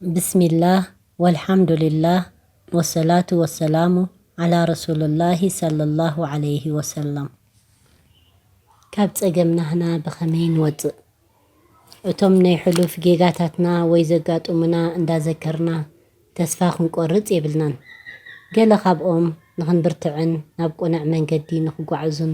ብስሚላህ ወልሓምዱሊላህ ወሰላቱ ወሰላሙ ዓላ ረሱሉላሂ ሰለላሁ ዓለይሂ ወሰለም። ካብ ጸገም ናህና ብኸመይ ንወጽእ? እቶም ናይ ሕሉፍ ጌጋታትና ወይ ዘጋጡሙና እንዳዘከርና ተስፋ ክንቆርጽ የብልናን። ገለ ካብኦም ንኽንብርትዕን ናብ ቁነዕ መንገዲ ንኽጓዕዙን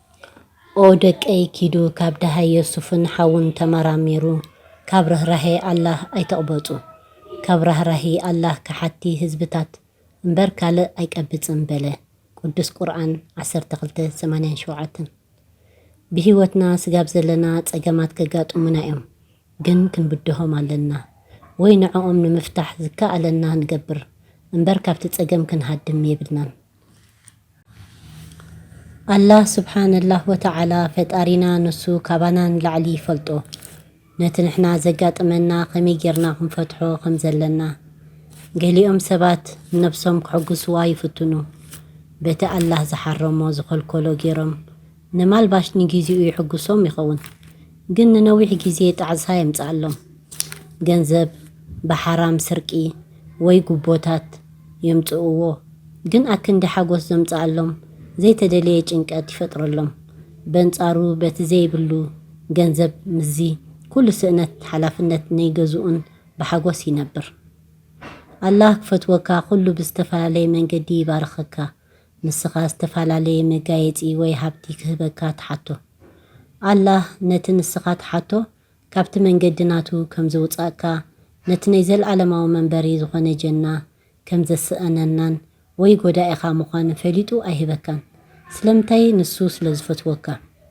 ኦ ደቀይ ኪዱ ካብ ደሃይ ዮሱፍን ሓዉን ተመራሚሩ ካብ ርህራሄ ኣላህ ኣይትቕበጹ ካብ ራህራሂ ኣላህ ከሓድቲ ህዝብታት እምበር ካልእ ኣይቀብጽን በለ ቅዱስ ቁርኣን ዓሰርተ ክልተ ሰማንያን ሸውዓተን ብሂወትና ስጋብ ዘለና ጸገማት ከጋጥሙና እዮም ግን ክንብድሆም ኣለና ወይ ንዕኦም ንምፍታሕ ዝከኣለና ንገብር እምበር ካብቲ ጸገም ክንሃድም የብልናን ኣላህ ሱብሓነላህ ወተዓላ ፈጣሪና ንሱ ካባና ንላዕሊ ይፈልጦ ነቲ ንሕና ዘጋጥመና ከመይ ጌርና ክንፈትሖ ከም ዘለና። ገሊኦም ሰባት ንነብሶም ክሕጉስዋ ይፍትኑ በቲ ኣላህ ዝሓረሞ ዝኸልከሎ ጌሮም ነማልባሽ ንጊዚኡ ይሕጉሶም ይኸውን ግን ንነዊሕ ጊዜ ጣዕሳ የምጽኣሎም ገንዘብ ብሓራም ስርቂ ወይ ጉቦታት የምጽእዎ ግን ኣክንዲ ሓጎስ ዘምጽኣሎም ዘይተደልየ ጭንቀት ይፈጥረሎም በንጻሩ በቲ ዘይብሉ ገንዘብ ምስዚ ኩሉ ስእነት ሓላፍነት ነይገዝኡን ብሓጎስ ይነብር ኣላህ ክፈትወካ ኩሉ ብዝተፈላለየ መንገዲ ይባርኸካ ንስኻ ዝተፈላለየ መጋየጺ ወይ ሃብቲ ክህበካ ትሓቶ። ኣላህ ነቲ ንስኻ ትሓቶ ካብቲ መንገዲ ናቱ ከም ዘውጻእካ፣ ነቲ ናይ ዘልኣለማዊ መንበሪ ዝኾነ ጀና ከም ዘሰእነናን ወይ ጎዳኢኻ ምዃኑ ፈሊጡ ኣይህበካን። ስለምንታይ? ንሱ ስለ ዝፈትወካ።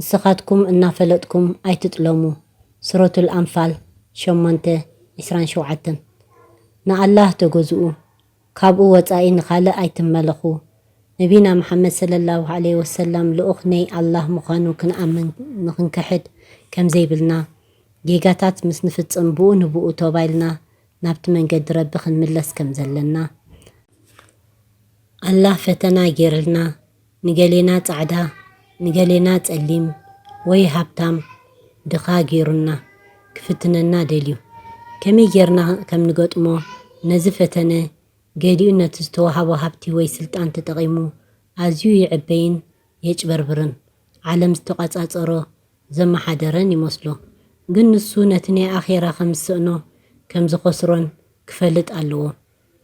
ንስኻትኩም እናፈለጥኩም ኣይትጥለሙ ሱረቱል ኣንፋል ሸሞንተ ዕስራን ሸውዓተን ንኣላህ ተገዝኡ ካብኡ ወጻኢ ንኻልእ ኣይትመለኹ ነቢና መሓመድ ሰለላሁ ዓለይሂ ወሰላም ልኡኽ ነይ ኣላህ ምዃኑ ክንኣምን ንኽንክሕድ ከምዘይብልና ጌጋታት ምስ ንፍጽም ብኡ ንብኡ ቶባ ኢልና ናብቲ መንገዲ ረቢ ክንምለስ ከምዘለና ኣላህ ፈተና ጌርልና ንገሌና ጻዕዳ ንገሌና ጸሊም ወይ ሃብታም ድኻ ጌሩና ክፍትነና ደልዩ። ከመይ ጌርና ከም ንገጥሞ ነዚ ፈተነ ገሊኡ ነቲ ዝተዋህቦ ሃብቲ ወይ ስልጣን ተጠቒሙ ኣዝዩ ይዕበይን የጭበርብርን ዓለም ዝተቛጻጸሮ ዘመሓደረን ይመስሎ። ግን ንሱ ነቲ ናይ ኣኼራ ከም ዝስእኖ ከም ዝኸስሮን ክፈልጥ ኣለዎ።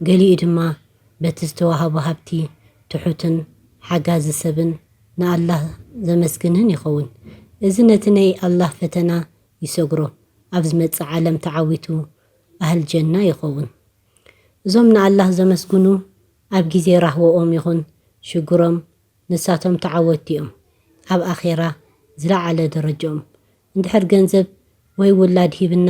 ገሊኡ ድማ በቲ ዝተዋህቦ ሃብቲ ትሑትን ሓጋዚ ሰብን ንኣላህ ዘመስግንህን ይኸውን። እዚ ነቲ ናይ ኣላህ ፈተና ይሰግሮ፣ ኣብ ዝመጽእ ዓለም ተዓዊቱ ኣህል ጀና ይኸውን። እዞም ንኣላህ ዘመስግኑ ኣብ ግዜ ራህወኦም ይኹን ሽግሮም ንሳቶም ተዓወትቲ'ዮም። ኣብ ኣኼራ ዝለዓለ ደረጅኦም እንድሕር ገንዘብ ወይ ውላድ ሂብና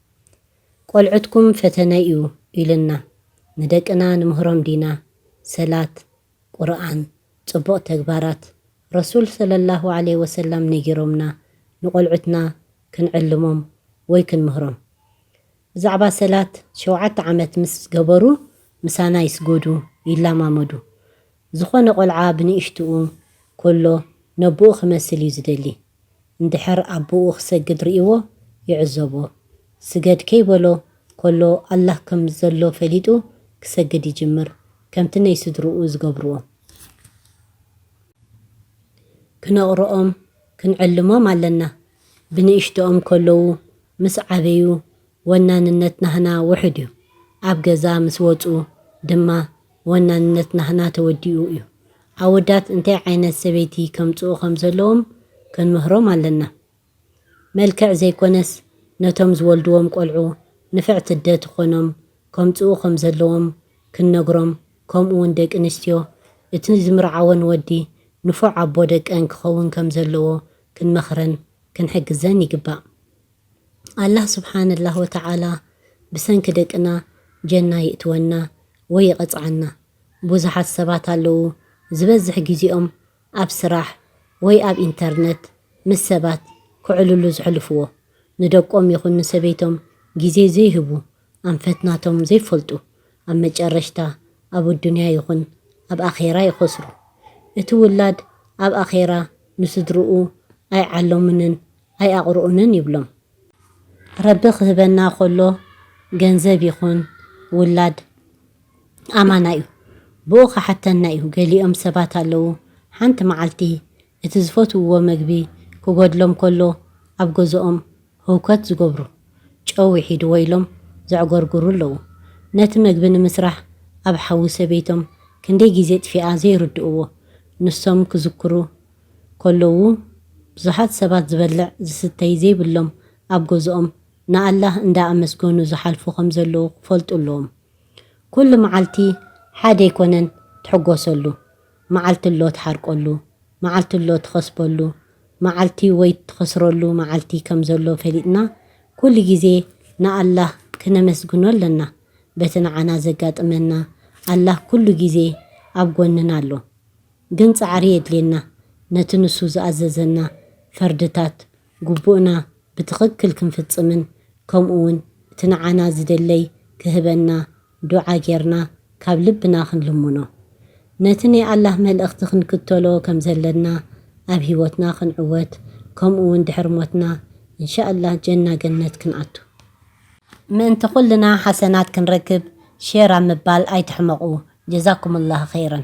ቆልዑትኩም ፈተነ ዩ ኢሉና ንደቅና ንምህሮም ዲና ሰላት ቁርኣን ጽቡቅ ተግባራት ረሱል ሰለላሁ ዓለይሂ ወሰላም ነጊሮምና ንቆልዑትና ክንዕልሞም ወይ ክንምህሮም ብዛዕባ ሰላት ሸውዓተ ዓመት ምስ ገበሩ ምሳና ይስጎዱ ይላማመዱ ዝኮነ ቆልዓ ብንእሽትኡ ኮሎ ነቡኡ ክመስል ዩ ዝደሊ እንድሕር ኣቡኡ ክሰግድ ሪኢዎ ይዕዘቦ ስገድ ከይበሎ ኮሎ ኣላህ ከም ዘሎ ፈሊጡ ክሰግድ ይጅምር ከምቲ ነይ ስድርኡ ዝገብርዎ ክነቅርኦም ክንዕልሞም ኣለና ብንእሽትኦም ከለዉ ምስ ዓበዩ ወናንነት ናህና ውሑድ እዩ። ኣብ ገዛ ምስ ወጹ ድማ ወናንነት ናህና ተወዲኡ እዩ። ኣወዳት እንታይ ዓይነት ሰበይቲ ከምጽኡ ከም ዘለዎም ክንምህሮም ኣለና። መልክዕ ዘይኮነስ ነቶም ዝወልድዎም ቆልዑ ንፍዕቲ ኣደ ትኾኖም ከምጽኡ ከም ዘለዎም ክንነግሮም ከምኡ ውን ደቂ ኣንስትዮ እቲ ዝምርዓወን ወዲ ንፉዕ ኣቦ ደቀን ክኸውን ከም ዘለዎ ክንመኽረን ክንሕግዘን ይግባእ። ኣላህ ሱብሓነላህ ወተዓላ ብሰንኪ ደቅና ጀና ይእትወና ወይ ይቐጽዓና። ቡዙሓት ሰባት ኣለዉ ዝበዝሕ ጊዜኦም ኣብ ስራሕ ወይ ኣብ ኢንተርነት ምስ ሰባት ክዕልሉ ዝሕልፍዎ። ንደቆም ይኹን ንሰበይቶም ጊዜ ዘይህቡ ኣንፈት ናቶም ዘይፈልጡ ኣብ መጨረሽታ ኣብ ኣዱንያ ይኹን ኣብ ኣኼራ ይኸስሩ። እቲ ውላድ ኣብ ኣኼራ ንስድርኡ ኣይዓለሙንን ኣይኣቕርኡንን ይብሎም። ረቢ ክህበና ከሎ ገንዘብ ይኹን ውላድ ኣማና እዩ። ብኡ ክሓተና እዩ። ገሊኦም ሰባት ኣለዉ ሓንቲ መዓልቲ እቲ ዝፈትውዎ መግቢ ክጎድሎም ከሎ ኣብ ገዝኦም ህውከት ዝገብሩ፣ ጨው ውሒድዎ ኢሎም ዘዕጎርጉሩ ኣለዉ። ነቲ መግቢ ንምስራሕ ኣብ ሓዊ ሰበይቶም ክንደይ ግዜ ጥፊኣ ዘይርድእዎ ንሶም ክዝክሩ ከለዉ ብዙሓት ሰባት ዝበልዕ ዝስተይ ዘይብሎም ኣብ ገዝኦም ንኣላህ እንዳ ኣመስገኑ ዝሓልፉ ከም ዘለዉ ክፈልጡ ኣለዎም ኩሉ መዓልቲ ሓደ ኣይኮነን ትሕጎሰሉ መዓልቲ ኣሎ ትሓርቀሉ መዓልቲ ኣሎ ትኸስበሉ መዓልቲ ወይ ትኸስረሉ መዓልቲ ከም ዘሎ ፈሊጥና ኩሉ ግዜ ንኣላህ ክነመስግኖ ኣለና በቲ ንዓና ዘጋጥመና ኣላህ ኩሉ ግዜ ኣብ ጎንና ኣሎ ግን ጻዕሪ የድልየና ነቲ ንሱ ዝኣዘዘና ፈርድታት ጉቡእና ብትኽክል ክንፍጽምን ከምኡ ውን እቲ ንዓና ዝደለይ ክህበና ዱዓ ጌርና ካብ ልብና ክንልምኖ ነቲ ናይ ኣላህ መልእኽቲ ክንክተሎ ከም ዘለና ኣብ ሂወትና ክንዕወት ከምኡ ውን ድሕሪ ሞትና እንሻኣላህ ጀና ገነት ክንኣቱ ምእንቲ ኩልና ሓሰናት ክንረክብ ሼር ኣብ ምባል ኣይትሕመቁ ጀዛኩሙላህ ኸይረን።